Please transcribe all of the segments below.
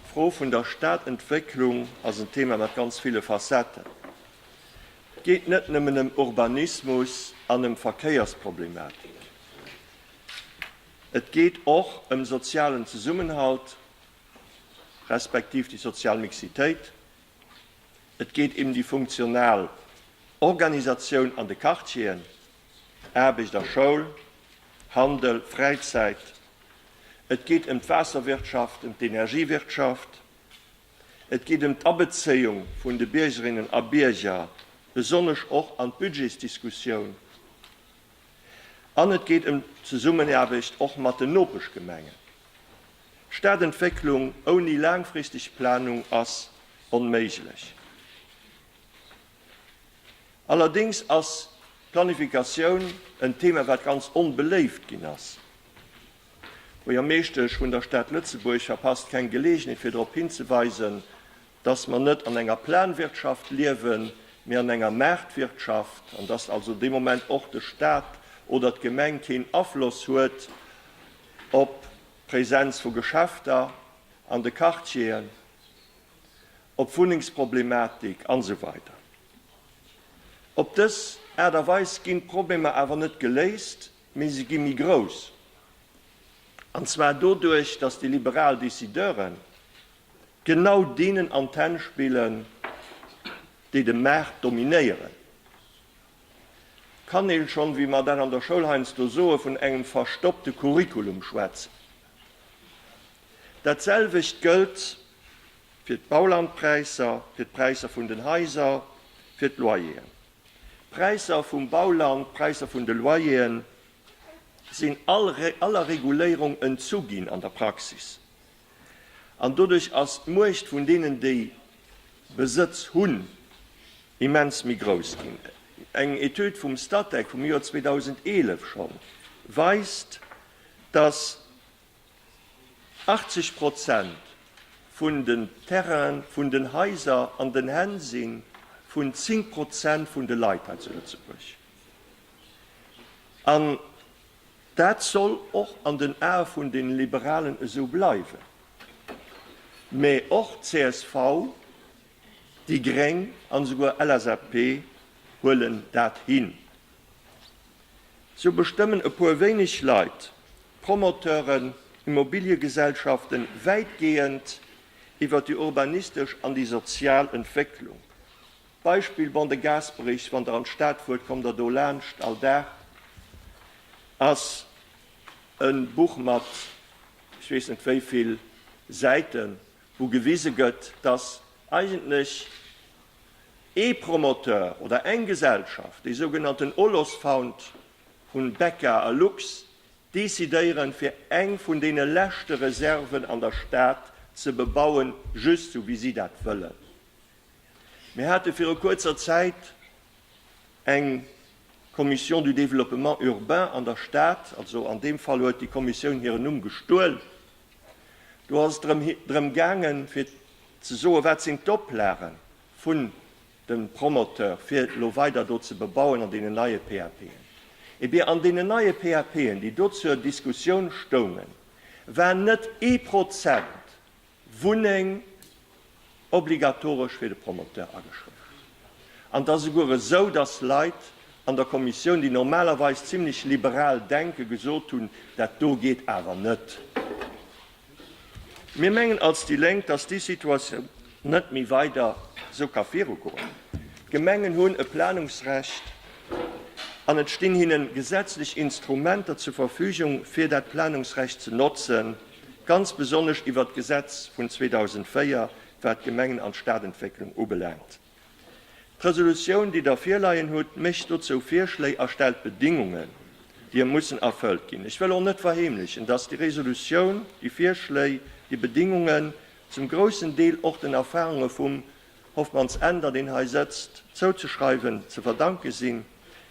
D'Fro vun der Stadentwécklung ass en Thema mat ganz ville Facetten. Et geet net nëmmen ëm Urbanismus an ëm Verkéiersproblematik. Et geet och ëm sozialen Zesummenhalt, respektiv déi sozial Mixitéit. Et geet ém déi funktional Organisatioun an de Quartieren. Aarbecht a Schoul, Handel, Fräizäit. Et geet ëm d'Waasserwirtschaft, ëm d'Energiewirtschaft. Et geet ëm d'Abezéiung vun de Biergerinnen a Bierger, besonnesch och an d'Budgetsdiskussioun. An et geet ëm d'Zesummenaarbecht och mat den Nopeschgemengen. Stadentwécklung ouni laangfristeg Planung ass onméiglech. Allerdéngs ass d'Planifikatioun en Thema, wat ganz onbeléift ginn ass. D'Buergermeeschtesch vun der Stad Lëtzebuerg verpasst keng Geleegenheet, fir drop hinzeweisen, dass mer net an enger Planwirtschaft liewen, mee an enger Maartwirtschaft, an dass also dee Moment och de Stat oder d'Gemeng keen Afloss huet op d'Präsenz vu Geschäfter an de Quartieren. op d'Wunnengsproblematik an esou weider Op dës Aart a Weis ginn d'Problemer awer net geléist, mee se gi méi grouss, an zwar doduerch, datt déi liberal Decideuren genau deenen an d'Hänn spillen, déi de Maart dominéieren. Kann ee schonn, wéi mer dat an der Schoul heiansdo soen, vun engem verstoppte Curriculum schwätzen? Dat selwecht gëllt. fir d'Baulandpräisser, fir d'Präisser vun den Haiser, fir d'Loyeren. D'Präisser vum Bauland, d'Präisser vun de Loyeren sinn all aller Reguléierung entzu ginn an der Praxis. An doduerch ass d'Muecht vun deenen, déi Besëtz hunn, immens méi grouss ginn. Eng Etüd vum Statec vum Joer 2011 schonn weist, dass, 80 Prozent vun den Terrainen vun den Haiser an den Hänn si vun 10 Prozent vun de Leit hei zu Lëtzebuerg. An dat soll och an den Ae vun de Liberalen esou bleiwen. Mä och csv, déi gréng an esouguer LSAP huelen dat hin. Sou bestëmmen e puer wéineg Leit, Promoteuren, Immobiliegesellschaften, wäitgehend iwwer déi urbanistesch an déi sozial Entwécklung. Beispill, Bon de Gasperich, wann Der an d'Stad fuert, kommt Der do laanscht, all Dag ass e Buch mat ech weess net wéi vill Säiten, wou gewise gëtt, dass eigentlech ee Promoteur oder eng Gesellschaft, déi sougenannten Olosfound vu Becca a Lux, decidéieren, fir eng vun deene leschte Reserven an der Stad ze bebauen, just sou wéi si dat wëllen. Mir hate viru kuerzer Zäit eng Commission du développement urbain an der Stad, also an deem Fall huet déi Kommissioun hiren Numm gestuel, Do ass et drëm gaangen, fir ze soen, wat sinn d'Oplage vun dem Promoteur, fir elo weider do ze bebauen an deenen neie PAPen. Eh bien, an deenen neie PAPen, déi do zur Diskussioun stoungen, war net ee Prozent Wunneng obligatoresch fir de Promoteur ageschriwwen. An et ass esouguer esou, dass Leit an der Kommissioun, déi normalerweis zimlech liberal denken, gesot hunn, Dat do geet awer net. Mir mengen als déi Lénk, dass déi Situatioun net méi weider esou ka virugoen. D'Gemengen hunn e Planungsrecht an et stinn hinne gesetzlech Instrumenter zur Verfügung, fir dat Planungsrecht ze notzen. ganz besonnesch iwwert d'Gesetz vun 2004, wat d'Gemengen an d'Stadentwécklung ubelaangt. D'Resolutioun, déi Der virleien hutt, mécht dozou Virschléi a stellt Bedingungen, déi mussen erfëllt ginn. Ech wëll och net verheemlechen, dass déi Resolutioun, déi Virschléi, déi Bedingungen zum groussen Deel och den Erfahrunge vum Hofmanns Änder, deen hei sëtzt, zouzeschreiwen, ze verdanke sinn,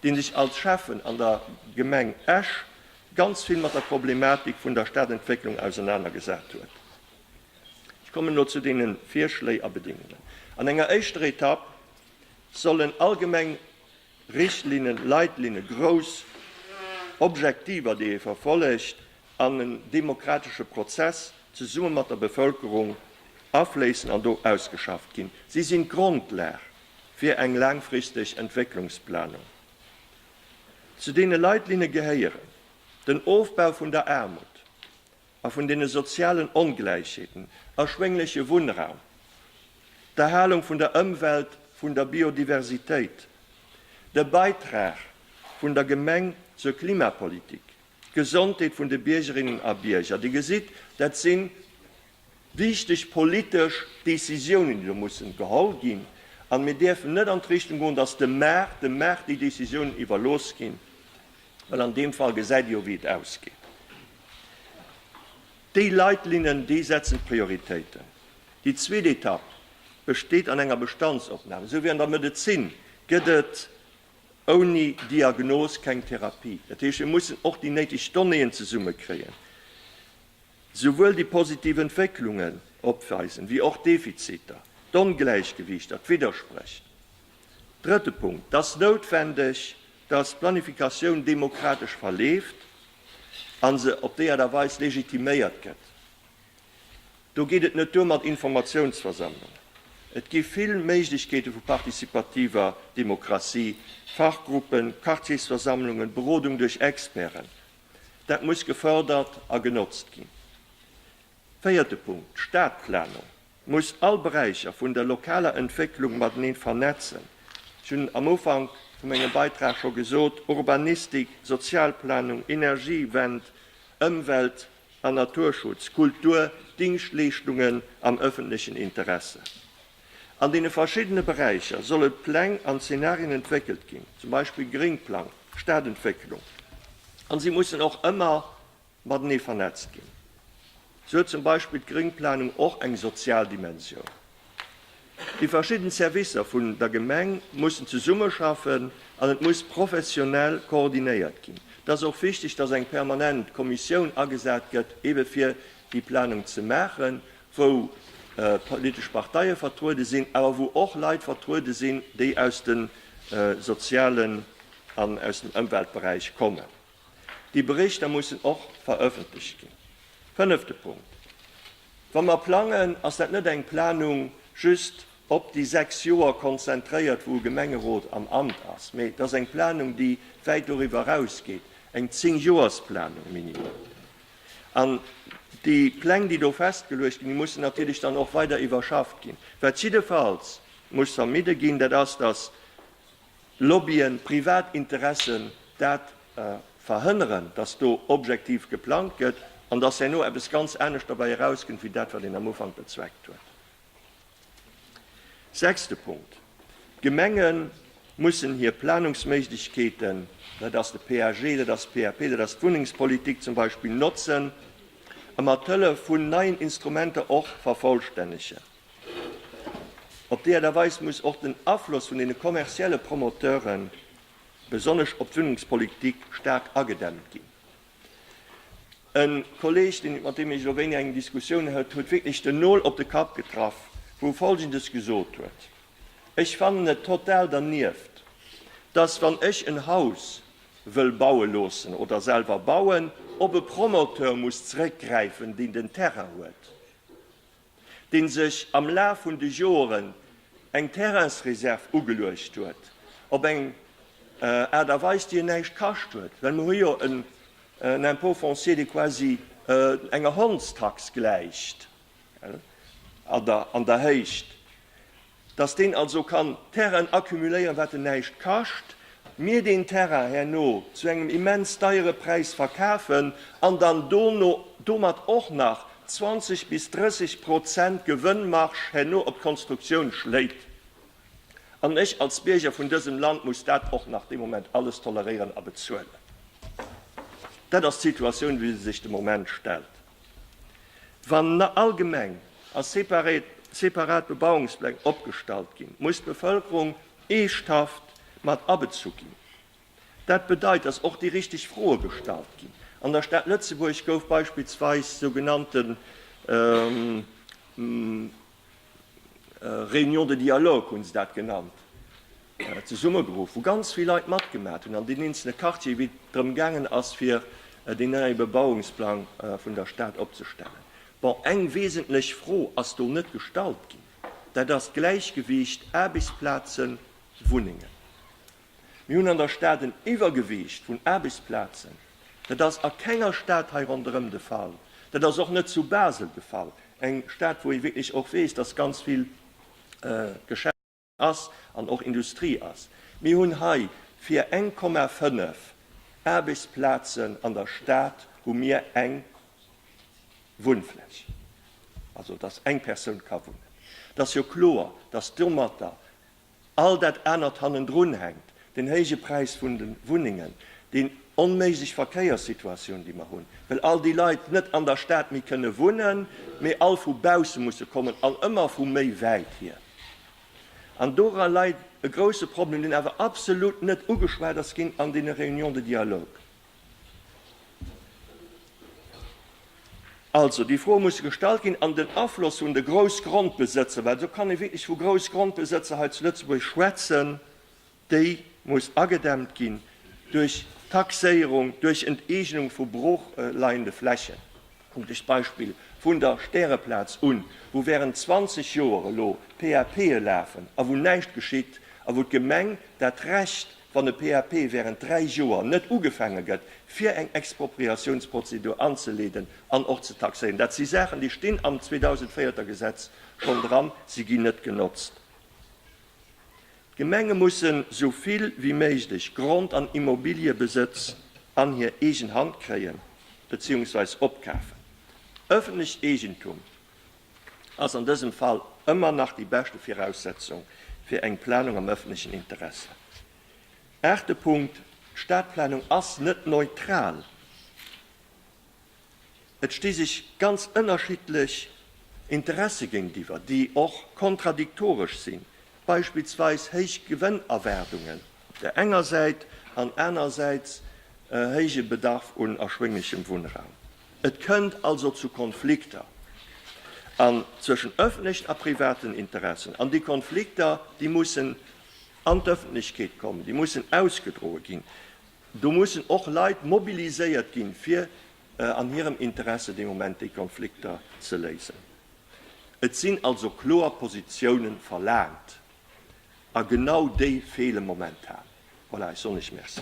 dee sech als Schäffen an der Gemeng Esch ganz vill mat der Problematik vun der Stadentwécklung ausenaner gesat huet. Ech kommen elo zu deene Virschléi a Bedingungen. An enger éischter Etapp sollen allgemeng Richtlinnen, Leitlinne, grouss Objektiver, déi ee verfollegt, an en demokratesche Prozess zesumme mat der Bevëlkerung afléissen an do ausgeschafft ginn. Si sinn d'Grondlag fir eng laangfristeg Entwécklungsplanung. Zu deene Leitlinne gehéieren den Ofbau vun der Aarmut a vun deene sozialen Ongläichheeten, erschwéngleche Wunnraum, d'Erhalung vun der Ëmwelt, vun der Biodiversitéit, de Beitrag vun der Gemeng zur Klimapolitik, D'Gesondheet vun de Biergerinnen a Bierger, Dir gesitt, dat si wichteg politesch Décisiounen, déi do mussen geholl ginn. A mir däerfen net an d'Richtung goen, datt dem Maart, dem Maart déi Décisiounen iwwerlooss ginn, well an deem Fall gesäit Dir jo, wéi et ausgeet. Déi Leitlinnen, déi setzen d'Prioritéiten. Déi zweet Etapp besteet an enger Bestandsopnam. Esou wéi an der Medezin gëtt et ouni Diagnos keng Therapie. Dat heescht, mir mussen och déi néideg Donnéeën zesummekréien, souwuel déi positiv Entwécklungen opweisen, wéi och d'Defiziter, d'Ongläichgewiichter, d'Widderspréch. Drëtte Punkt, Et ass noutwendeg, dass d'Planifikatioun demokratesch verleeft a se op déi Aart a Weis legitiméiert gëtt. Do geet et net duer mat Informatiounsversammlungen. Et gi vill Méiglechkeete vu partizipativer Demokratie, Fachgruppen, Quartiersversammlungen, Berodung duerch Experten. Dat muss gefërdert a genotzt ginn. Véierte Punkt, D'Stadplanung muss all Beräicher vun der lokaler Entwécklung matenee vernetzen. Ech hunn am Ufank vu mengem Beitrag scho gesot, Urbanistik, Sozialplanung, Energiewend, Ëmwelt, an Naturschutz, Kultur, Dingschtleeschtungen am ëffentlechen Interesse. An deene verschiddene Beräicher solle Pläng an Zenarien entwéckelt ginn, zum Beispill Gréngplang, Stadentwécklung, an si mussen och ëmmer matenee vernetzt ginn. Sou huet zum Beispill d'Gréngplanung och eng sozial Dimensioun. Déi verschidden Servicer vun der Gemeng mussen zesummeschaffen an et muss professionell koordinéiert ginn. Et ass och wichteg, dass eng permanent Kommissioun agesat gëtt, ebe fir déi Planung ze maachen, wou politesch Parteie vertruede sinn, awer wou och Leit vertruede sinn, déi aus de sozialen an aus dem Ëmweltberäich kommen. Déi Berichter mussen och verëffentlecht ginn. Fënnefte Punkt, Wa mer plangen, ass dat net eng Planung just op déi sechs Joer konzentréiert, wou e Gemengerot am Amt ass, mee et ass eng Planung, déi wäit doriwwer erausgeet, eng Zéngjoersplanung minimum. An déi Pläng, déi do festgeluecht ginn, déi mussen natierlech dann och weider iwwerschafft ginn. Wat jiddefalls muss vermidde ginn, dat ass, dass Lobbyen, privat Interessen dat verhënneren, dass do objektiv geplangt gëtt an dass herno eppes ganz anescht derbäi erauskënnt wéi dat, wat een am Ufank bezweckt huet. Sechste Punkt, D'Gemenge mussen hir Planungsméiglechkeeten, dat ass de PAG, dat ass d'PAP, dat ass d'Wunnengspolitik zum Beispill, notzen a mat Hëllef vun neien Instrumenter och vervollstännegen. Op déi Art a Weis muss och den Afloss vun deene kommerzielle Promoteure besonnesch op d'Wunnungspolitik staark agedämmt ginn. E Kolleg, deen, mat deem ech elo wéini eng Diskussioun hat, huet wierklech den Nol op de Kapp getraff, wou e Folgendes gesot huet, Ech fannen et total dernieft, dass, wann ech en Haus wëll baue loossen oder selwer bauen, op e Promoteur muss zrëckgräifen, deen den Terrain huet. dee sech am Laf vun de Joren eng Terrainsreserv ugeluecht huet, op eng Aart a Weis, déi en näischt kascht huet, well mir hu jo en Impôt foncier, dee quasi enger Hondstax gläicht an der Héicht. dass deen also kann Terrainen accumuléieren, wat en näischt kascht, mir deen Terrain herno zu engem immens deiere Präis verkafen an dann dono domat och nach 20 bis 30 Prozent Gewënnmarge herno op d'Konstruktioun schléit. An ech als Bierger vun dësem Land muss dat och nach dee Moment alles toleréieren a bezuelen. Dat ass d'Situatioun, wéi se sech de Moment stellt. Wann allgemeng a separat Bebauungspläng opgestallt ginn, muss d'Bevëlkerung eeschthaft mat abezu ginn. Dat bedeit, datt och déi richteg Froe gestallt ginn. An der Stad Lëtzebuerg gouf beispillsweis sougenannten Réunion de dialogue hunn se dat genannt, zesummegeruff, wou ganz vill Leit matgemat hunn an den eenzele Quartier, wéi et drëm gaangen ass, fir deen neie Bebauungsplang vun der Stad opzestellen. Bon, eng wesentlech Fro ass do net gestallt ginn, dat ass d'Gläichgewiicht Aarbechtsplazen, Wunnengen. Mir hunn an der Stad en Iwwergewiicht vun Aarbechtsplazen. Dat ass a kenger Stad hei ronderëm de Fall. Dat ass och net zu Basel de Fall, eng Stad, wou ee wierklech och weess, dass ganz vill Geschäft ass an och Industrie ass. Mir hunn hei fir 1,5 Aarbechtsplazen an der Stad hu mir eng Wunnfläch, also dass eng Persoun ka wunnen. Et ass jo kloer, dass domatter All dat anert hannendrun hänkt, den héije Präis vun de Wunnengen, déi onméiglech Verkéierssituatioun, déi mer hunn, well all déi Leit net an der Stad méi kënne wunnen, mee all vu bausse musse kommen an ëmmer vu méi wäit hier. An dora läit e grouse Problem, deen awer absolut net ugeschwat ass ginn an deene Réunions de dialogue. Also, déi Froe musse gestallt ginn. An den Afloss vun de Groussgrondbesëtzer, well do kann ee wierklech vu Groussgrondbesëtzer hei zu Lëtzebuerg schwätzen, déi muss agedämmt ginn duerch Taxéierung, duerch Enteegnung vu broochleiende Flächen. Kuckt Iech d'Beispill vun der Stäreplaz un, wou während 20 Joer elo PAPe lafen a wou näischt geschitt a wou d'Gemeng dat Recht Wann e PAP während dräi Joer net ugefaange gëtt, fir eng Expropriatiounsprozedur anzeleeden an och ze taxéieren, dat si Saachen, déi stinn am 2004 Gesetz schonn dran, se ginn net genotzt. D'Gemenge mussen esou vill wéi méiglech Grond an Immobiliëbesëtz an hir eegen Hand kréien beziehungsweise opkafen. Ëffentlecht Eegentum ass an dësem Fall ëmmer nach déi beschte Viraussetzung fir eng Planung am öffentlechen Interesse. Aachte Punkt, D'Stadplanung ass net neutral. Et sti sech ganz ënnerschiddlech Interesse géintiwwer, déi och kontradiktoresch sinn, beispillsweis héich Gewënnerwaardungen op där enger Säit an anerersäits e héije Bedarf un erschwénglechem Wunnraum. Et kënnt also zu Konflikter an zwëschen ëffentlechen a privaten Interessen. An déi Konflikter, déi mussen an d'Ëffentlechkeet kommen, déi mussen ausgedroe ginn. Do mussen och Leit mobiliséiert ginn, fir an hirem Interesse dee Moment déi Konflikter ze léisen. Et sinn also kloer Positiounen verlaangt, a genau déi feele momentan. Voilà, ech soen lech Merci.